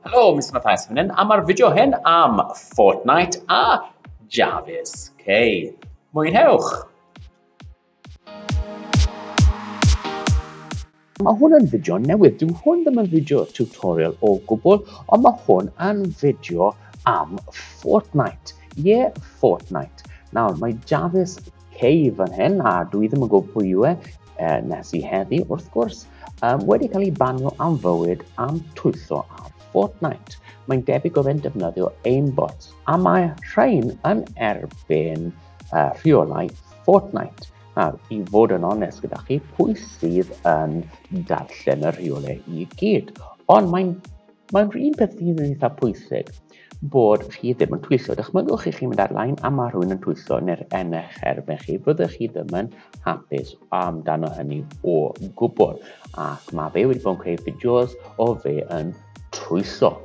Helo, Mr Mathias fan hyn, a mae'r fideo hyn am Fortnite a Jarvis K. Mwynhewch! Mae hwn yn fideo newydd, dyw hwn ddim yn fideo tutorial o gwbl, ond mae hwn yn fideo am Fortnite. Ie, yeah, Fortnite. Nawr, mae Jarvis Cei fan hyn, a dwi ddim yn gwybod pwy yw e, e nes i heddi, wrth gwrs, um, wedi cael ei banio am fywyd am twyllo ar Fortnite. Mae'n debyg oedd e'n defnyddio aimbot, a mae rhain yn erbyn uh, rheolau Fortnite. Nawr, i fod yn onest gyda chi, pwy sydd yn darllen y rheolau i gyd? Ond mae'n mae'n un peth sy'n eitha pwysig, bod chi ddim yn twyllo. Dychmygwch i chi mynd ar lain a mae rhywun yn twyllo neu'r yn eich erbyn chi. Fyddwch chi ddim yn hapus amdano hynny o gwbl. Ac mae fe wedi bod yn creu fideos o fe yn twyllo.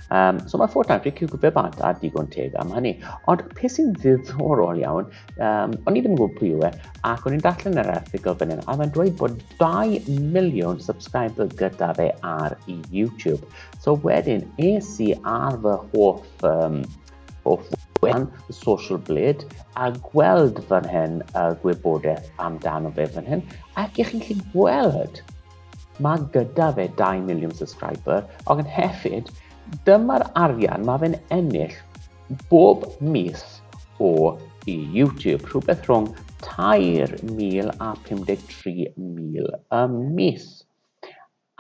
Um, so mae Fortnite wedi cywg fe bant a digon teg am hynny. Ond peth sy'n ddiddorol iawn, um, o'n i ddim yn gwybod pwy yw e, ac o'n i'n darllen yr erthigol fan hyn, a fe'n dweud bod 2 miliwn subscriber gyda fe ar YouTube. So wedyn, es i ar fy hoff, um, hoff wefan, Social Blade, a gweld fan hyn y uh, gwybodaeth amdano fe fan hyn, ac i chi'n chi'n gweld, mae gyda fe 2 miliwn subscriber, ac yn hefyd, dyma'r arian mae fe'n ennill bob mis o i YouTube, rhywbeth rhwng 3,000 a 53,000 y mis.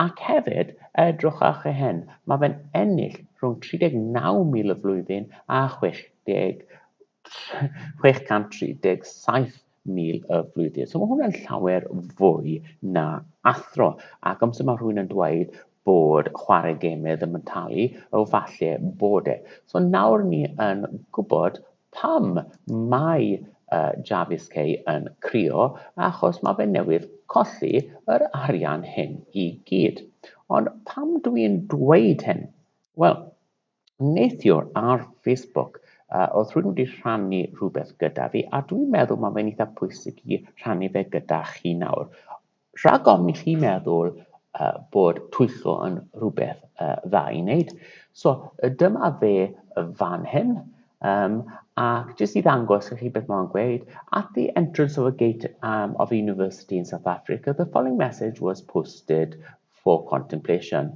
Ac hefyd, edrychwch ar chi hyn, mae fe'n ennill rhwng 39,000 y flwyddyn a 637,000 y flwyddyn. So mae hwnna'n llawer fwy na athro. Ac amser mae rhywun yn dweud bod chwarae gemau ddim yn talu, o falle bod e. So nawr ni yn gwybod Pam mae Jarvis Kay yn crio? Achos mae fe newydd colli yr arian hyn i gyd. Ond pam dw i'n dweud hyn? Wel, neithiwr ar Facebook, uh, oedd rhywun wedi rhannu rhywbeth gyda fi, a dwi'n meddwl mae fe'n eitha pwysig i rhannu fe gyda chi nawr. Rhag ofn i chi meddwl bod twyllo yn rhywbeth dda i wneud. So, dyma fe fan hyn, um, ac jyst i ddangos i chi beth mae'n gweud, at the entrance of a gate um, of a university in South Africa, the following message was posted for contemplation.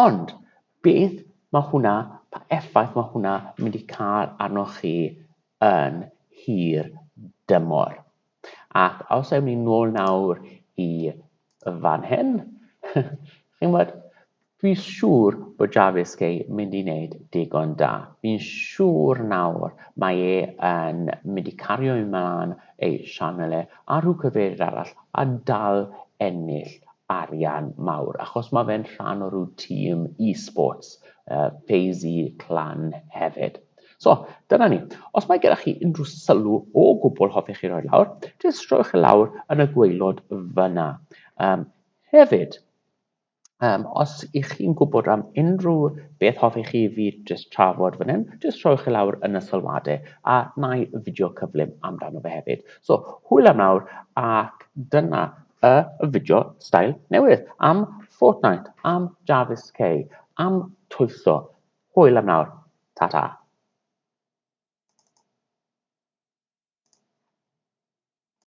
Ond beth mae hwnna, pa effaith mae hwnna mynd i cael arnoch chi yn hir dymor? Ac os ewn ni nôl nawr i fan hyn, chi'n gwybod, dwi'n siŵr bod Jarvis Gay mynd i wneud digon da. Fi'n siŵr nawr mae e yn mynd i cario ymlaen ei sianel e a rhyw cyfeiriad arall a dal ennill arian mawr achos mae fe'n rhan o ryw tîm e-sports, uh, FaZe Clan hefyd. So, dyna ni. Os mae gyda chi unrhyw sylw o gwbl hoffech chi roi lawr, jyst rhowch e lawr yn y gweilod fyna. Um, hefyd, um, os ych chi'n gwybod am unrhyw beth hoffech chi fi jyst trafod fan hyn, jyst rhowch e lawr yn y sylwadau a na i fideo cyflym amdano fe hefyd. So, hwyl am nawr ac dyna y fideo stael newydd am Fortnite am Jarvis K am twyllo. Hwyl am nawr. Ta ta.